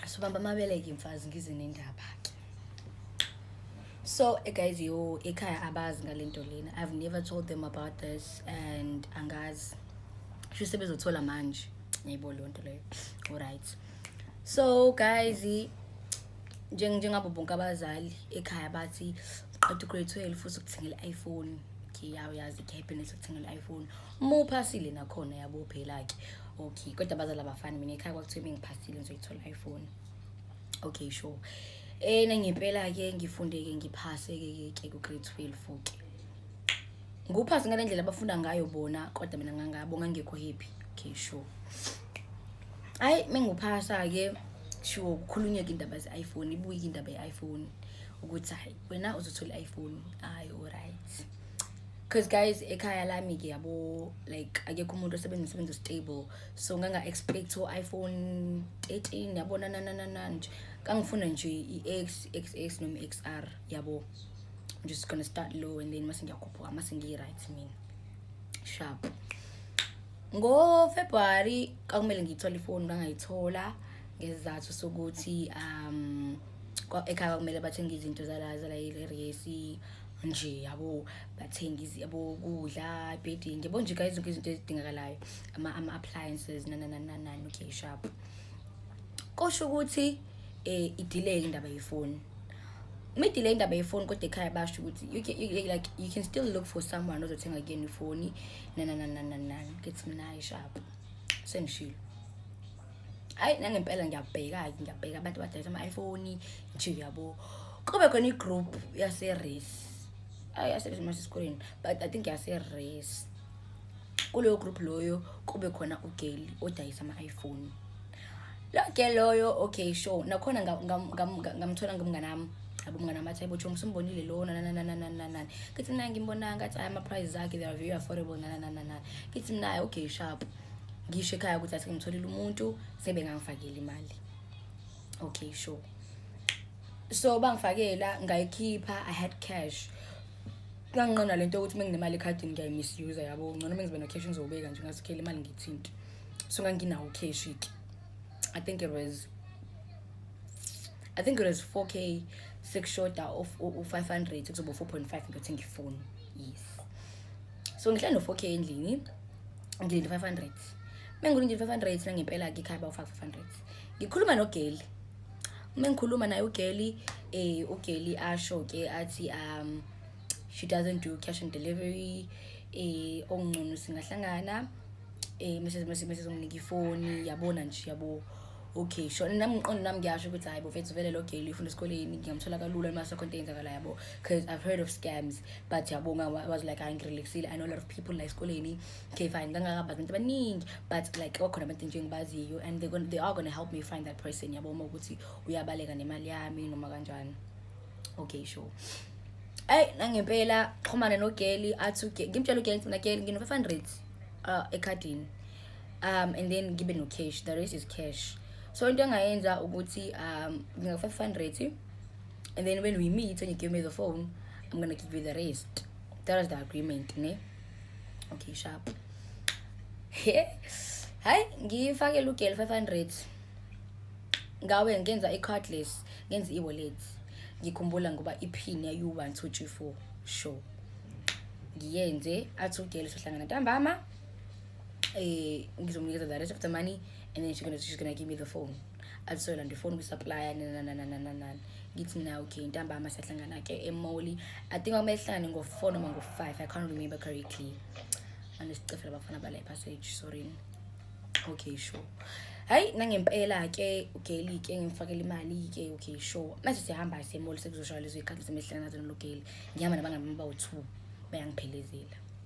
sobamba amabeleke mfazi ngize nendaba ke so eh, guys yo ekhaya abazi ngale nto lena i've never told them about this and angazi sho sebezothola manje ngiyibo leyo nto leyo alright so guys njengabo bonke abazali ekhaya bathi qeda ugrade 12 futhi ukuthengela i-iphone ngiyayazi i-happiness ukuthengela i-iphone muphasile nakhona yabo phela ke okay kodwa abazali abafani mina ekhaya kwakuthiwa bengiphasile ngizoyithola iphone okay sure ena ngempela ke ngifundeke ngiphase ke ke ku grade 12 ke nguphase ngale ndlela abafunda ngayo bona kodwa mina ngangabo ngangekho happy okay sure hayi menguphasa ke sure kukhulunyeka indaba ze iPhone ibuye indaba ye iPhone ukuthi hayi wena uzothola i-iPhone hayi alright because guys ekhaya lami ke yabo like akekho umuntu osebenza umsebenzi stable so nganga expect u iPhone 13 yabona na na na na nje kangifuna nje iX XS noma XR yabo I'm just going to start low and then mase ngiyakhuphuka mase ngi right mina sharp ngo February kakumele ngiyithole ifoni ngangayithola ngezizathu sokuthi um ekhaya kumele bathenge izinto zala zala iresi nje yabo bathenga yabo kudla bedding yabo nje kayi zonke izinto ezidingakalayo ama-appliances nananananani okay sharp kosho ukuthi um idileke indaba yefoni uma idileke indaba yefoni kodwa ekhaya basho ukuthi like you can still look for someone ozothenga kuyena ifoni nanananananani kethi mnayi sharp sengishilo hayi nangempela ngiyabheka-ke ngiyabheka abantu abadayisa ama-iphone nje uyabo kube khona i-group yase-race ayi yasebenza mase esikoleni but i think yase-race kuleyo group loyo kube khona ugeli odayisa ama-iphone lo geli loyo okay sure nakhona ngamthola ngomngane wami abo mngane wami athi ayibotshongo simbonile lona nanananananani kithi mna ngimbonanga athi ayi ama-prices akhe they are very affordable nananananani kithi mnaye okay sharp ngisho ekhaya ukuthi athi ngimtholile umuntu sebengangifakela imali okay sure so bangifakela ngayikhipha i had cash kanginqona lento ukuthi uma nginemali ekhadini ngiyayimisuse yabo ngcono uma ngizobe no-cash ngizobeka nje ngazikhela imali ngithinti so nganginawo cash ke i think it was i think it was 4 k sekushoda u-500 kuzoba 4.5 ngiyothi ngifoni yes so ngihlala no-four k endlini ngilinde five hundred uma ngilinde five hundred nangempela-ke ikhaya bawufaka five hundred ngikhuluma nogeli uma ngikhuluma naye ugeli um ugeli asho-ke athi um she doesn't do cash and delivery um okungcono singahlangana um mesezomnika ifoni yabona nje yabo okay sho nami ngiqondo nami ngiyasho ukuthi hayi bofethu vele lo gale ufunda esikoleni ngiyamthola kalula noma sekho into eyenzakala yabo because i've heard of scams but yabo nga was like hayi ngirelaxile i know a lot of people la esikoleni okay fine ngangakabazi abantu abaningi but like wakhona abantu nje engibaziyo and they gonna, they are going to help me find that person yabo uma ukuthi uyabaleka nemali yami noma kanjani okay sure ayi nangempela xhumane nogeli athi ngimtshela ugeli ngifuna geli ngino-500 uh, ekhadini um and then ngibe no-cash the rest is cash so into engayenza ukuthi um nginga-five hundred and then when we meet and you give me the phone i'm gonna give you the rest that was the agreement ne okay sharp hayi ngifakele ugel five hundred ngawe ngenza i-cardless ngenza i-wallet ngikhumbula ngoba ipin yayi-one two three four sure ngiyenze athi ugel sohlangana ntambama eh ngizomnikeza the rest of the money and then she's gonna, she's gonna give me the phone alisoyela nje ifoni kwisupplier nanananananani ngithi na okay ntambama siyahlangana-ke emoli i think kwamele hlangane ngo-four noma ngo-five i can't remember correctly andisicefela abafana bala ipassage sorry okay sure hayi nangempela-ke ugeli-ke ngimfakela imali-ke okay sure manje siyahamba semoli sekuzoshaywa lezo ikhathi semehlangana nazo nologeli ngihamba nabangami bawu-two bayangiphelezela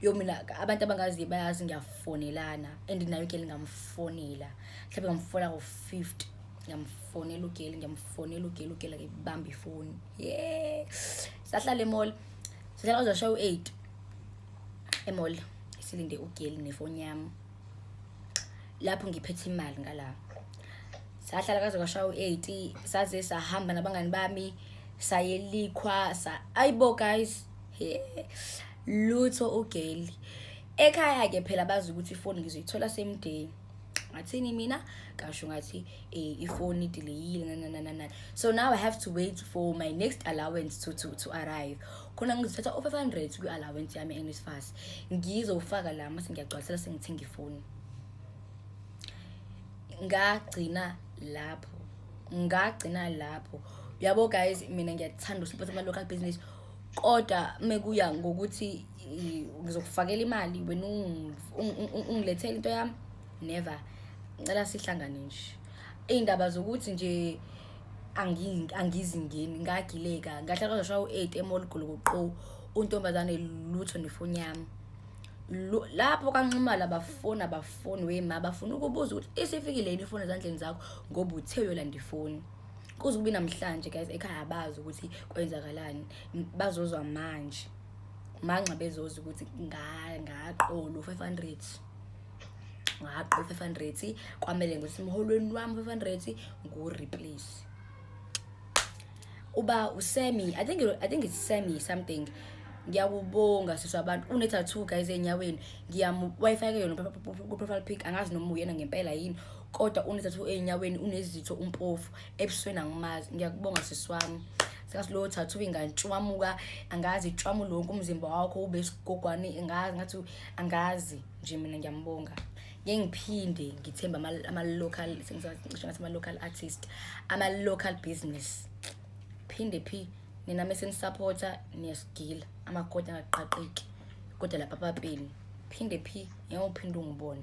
yo mina abantu abangaziyo bayazi ngiyafonelana and nayo ugeli ngamfonela mhlawumbe ngamfona ngo-fifty ngiyamfonela ugeli ngiyamfonela ugeli ugeli akebamba ifoni ye sahlala emall sahlala kwazashaya u-eight emall silinde ugeli nefoni yami lapho ngiphethe imali ngala sahlala kaze kwashaya u-eight saze sahamba nabangani bami sayelikhwa sa ayibo guys yeah. lutho ugeli ekhaya ke phela bazi ukuthi ifoni ngizoyithola same day ngathini mina kasho ngathi eh, ifoni idileyile nananana so now i have to wait for my next allowance to to to arrive khona ngizothatha o 500 kwi allowance yami eNSFAS ngizofaka la mase ngiyagcwalisela sengithenga ifoni ngagcina lapho ngagcina lapho yabo guys mina ngiyathanda usiphatha ama local business kodwa mekuya ngokuthi ngizokufakela imali wena ungilethele into yami never ngicela sihlangane nje iy'ndaba zokuthi nje angizingeni ngagileka ngahlala kwazoshawa u-eight emolgolokoqo untombazane lutho nefoni yami lapho kanxumala abafoni abafoni wema bafuna ukubuza ukuthi isifikile yini ifoni ezandleni zakho ngoba uthe uyolanda ifoni kuze kube namhlanje guys ekhaya abazi ukuthi kwenzakalani bazozwa manje manxa bezoza ukuthi ngaqolo 500 ngaqo 500 kwamele ngithi emholweni wami 500 ngu replace uba usemi i think i think it's semi something ngiyakubonga sisi abantu une-tattoo guys enyaweni ngiyamwayifake yona ku-profile pic angazi noma uyena ngempela yini kodwa unezathu ezinyaweni unezitho umpofu ebusweni angimazi ngiyakubonga sisi wami sikasiloo thathu ingantshwamuka angazi itshwamu lonke umzimba wakho ube sigogwane angazi ngathi angazi nje mina ngiyambonga ngeke ngiphinde ngithembe ama-local sengisacishe ngathi ama-local artist ama-local business phinde phi nina mesenisapotha niyasigila amakoti angaqaqeki kodwa lapha papeni phinde phi ngeke uphinde ungibone